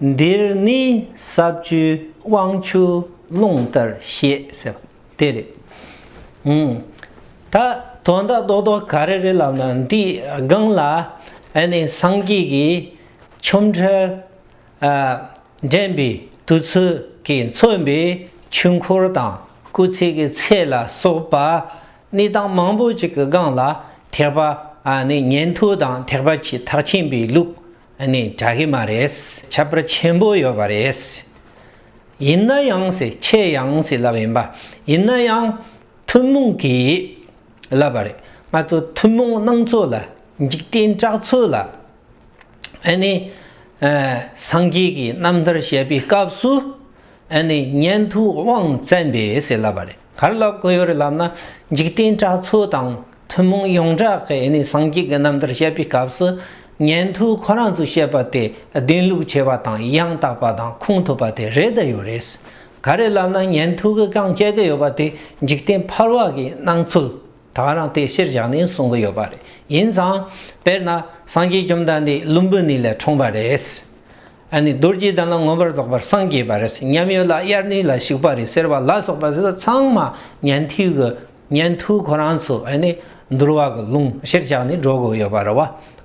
འདིར་ནི་ས་བཅུའི་དབང་ཕྱུག་རླུང་ལྟར་ཞེས་ཟེར་བ་དེ་རེད། ད་དོན་དག་རྡོག་རྡོག་ག་རེ་རེད་ལབ་ན་འདིའི་སྒང་ལ་སངས་རྒྱས་ཀྱི་ཆོམ་ཁྲལ་འདྲེན་པའི་དུས་ཚོད་ཀྱིས་མཚོན་པའི་ཆོས་འཁོར་དང་སྐུ་ཚེགས་ཀྱི་ཚད་ལ་སོགས་པ་གནས་སྟངས་མང་པོ་ཅིག་གི་སྒང་ལ་ཐེག་པ་ནི་ཉན་ཐོས་དང་ཐེག་པ་ཆེས་ཐག་ཆེན་པོའི་ལུགས་ནི་གྲགས་ཀྱི་མ་རེད། ཁྱད་པར་ཆེན་པོ་ཡོད་པ་རེད། ཡིན་ན་ཡང་སྲིད་ཁྱེད་ཡང་སྲིད་ལབ་ཡིན་པ་ཡིན་ན་ཡང་ཐུན་མོང་གིས་ལབ་པ་རེད། ང་ཚོ་ཐུན་མོང་སྣང་ཚོད་ལ་འཇིག་རྟེན་གྲགས་ཚོད་ལ་ནི་སངས་རྒྱས་ཀྱི་རྣམ་ཐར་བཤད་པའི་སྐབས་སུ་ཨ་ནི་སྙན་དུ་དབང་བཙན་པས་ཟེར་ལབ་པ་རེད་གར་ལབ་དགོས་ཡོད་རེད་ལབ་ན་འཇིག་རྟེན་གྲགས་ཚོ་དང་ཐུན་མོང་ཡོངས་གྲགས་ཀྱི་ཨ་ནི་སངས་རྒྱས་ཀྱི་རྣམ་ཐར་བཤད་པའི་སྐབས་སུ་སྙན་དུ་ཁོ་རང་ཚོས་བཤད་པ་དེ་བདེན་ལུགས་ཆེ་བ་དང་ཡང་དག་པ་དང་ཁུངས་ཐུབ་པ་དེ་རེད་ད་ཡོད་རེད། ག་རེད་ལབ་ན་སྙན་དུ་གི་རྐང་བཅད་ཀྱི་ཡོད་པ་དེ་འཇིག་རྟེན་ཕར་བ་གི་སྣང་ཚུལ་དག་རང་དེ་ཕྱིར་བཞག་ནས་གསུང་གི་ཡོད་པ་རེད་ཡིན་ཙང་དཔེར་ན་སངས་རྒྱས་བཅོམ་ལྡན་འདས་ཀླུ་འབུ་ནི་ལས་འཁྲུངས་པ་རེད། ཨ་ནི་རྡོ་རྗེའི་གདན་ལ་མངོན་པར་རྫོགས་པར་སངས་རྒྱས་པ་རེད་ཉམས་ཡོད་ལ་དབྱར་གནས་ལ་བཞུགས་པ་རེད་ཟེར་བ་ལ་སོགས་པ་འདི་ཚང་མ་ཉན་ཐོས་ཀྱི་ཉན་ཐོས་ཁོ་རང་ཚོ་ཨ་ནི་འདུལ་བ་གི་ལུང་གཞིར་བཞག་ནས་སྒྲོག་དགོས་ཡོད་པ་རེད་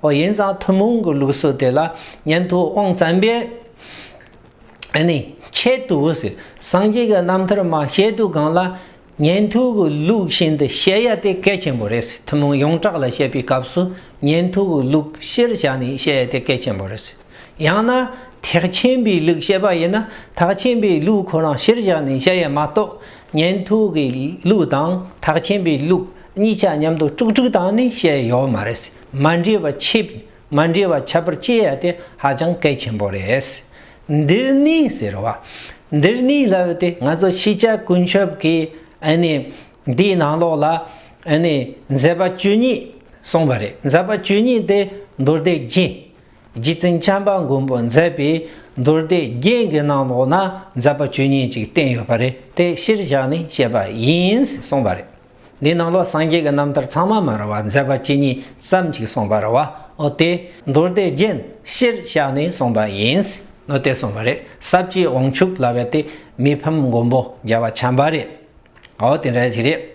བ་ཡིན་ཙང་ཐུན་མོང་གི་ལུགས་སྲོལ་དེ་ལ་ཉན་ཐོས་དབང་བཙན་པས་ཨ་ནི་ཆེད་དུ་སངས་རྒྱས་ཀྱི་རྣམ་ཐར་མ་བཤད་དུ་གང་ལ་ཉན་ཐོས་ཀྱི་ལུགས་ཤིན་ཏུ་བཤད་ཡ་དེ་གལ་ཆེན་པོ་རེད། ཐུན་མོང་ཡོངས་གྲགས་ལ་བཤད་པའི་སྐབས་སུ་ཉན་ཐོས་ཀྱི་ལུགས་གཞིར་བཞག་ནས་བཤད་ཡ་དེ་གལ་ཆེན་པོ་རེད། ཡང་ན། ཐེག་ཆེན་པའི་ལུགས་བཤད་པ་ཡིན་ན་ཐག་ཆེན་པའི་ལུགས་ཁོ་རང་གཞིར་བཞག་ནས་བཤད་ཡ་མ་གཏོགས་ཉན་ཐོས་ཀྱི་ལུགས་དང་ཐག་ཆེན་པའི་ལུགས་གཉིས་ཆ་མཉམ་དུ་དཀྲུག་དཀྲུག་བཏང་ནས་བཤད་ཡ་ཡོད་མ་རེད། མ་འདྲེས་པ་ཕྱེད་མ་འདྲེས་པ་ཁྱད་པར་བསྐྱེད་ཡ་དེ་ཧ་ཅང་གལ་ཆེན་པོ་རེད། འདིར་ནི་ཟེར་བ། འདིར་ནི་ལབ་སྟེ་ང་ཚོ་ཕྱི་ཆ་ཀུན་ཁྱབ་ཀྱི་འདིའི་ནང་ལོགས་ལ་མཛད་པ་བཅུ་གཉིས་གསུངས་པ་རེད་མཛད་པ་བཅུ་གཉིས་ཏེ་མདོར་བསྡུས་རྒྱན། རྗེ་བཙུན་བྱམས་པ་མགོན་པོ་མཛད་པའི་མདོར་བསྡུས་རྒྱན་གྱི་ནང་ལོགས་ན་མཛད་པ་བཅུ་གཉིས་ཅིག་བསྟན་ཡོད་པ་རེད་དེ་གཞིར་བཞག་ནས་བཤད་པ་ཡིན་གསུངས་པ་རེད། འདི་རྣམས་ལ་སངས་རྒྱས་ཀྱི་རྣམ་ཐར་ཚང་མ་མ་རུང་བར་མཛད་པ་ཇི་སྙེད་ཙམ་གཅིག་གསུངས་པ་རུང་བ་འོ་དེ་མདོར་བསྡུས་རྒྱན་ཕྱིར་བཞག་ནས་གསུངས་པ་ཡིན། འོ་དེ་གསུངས་པ་རེད་ཟབ་ཀྱིས་དབང་ཕྱུག་ལ་བས་ཏེ་མི་ཕམ་མགོན་པོ་རྒྱལ་བ་བྱམས་པ་རེད། འོ་དེ་འདྲ་ཞིག་རེད།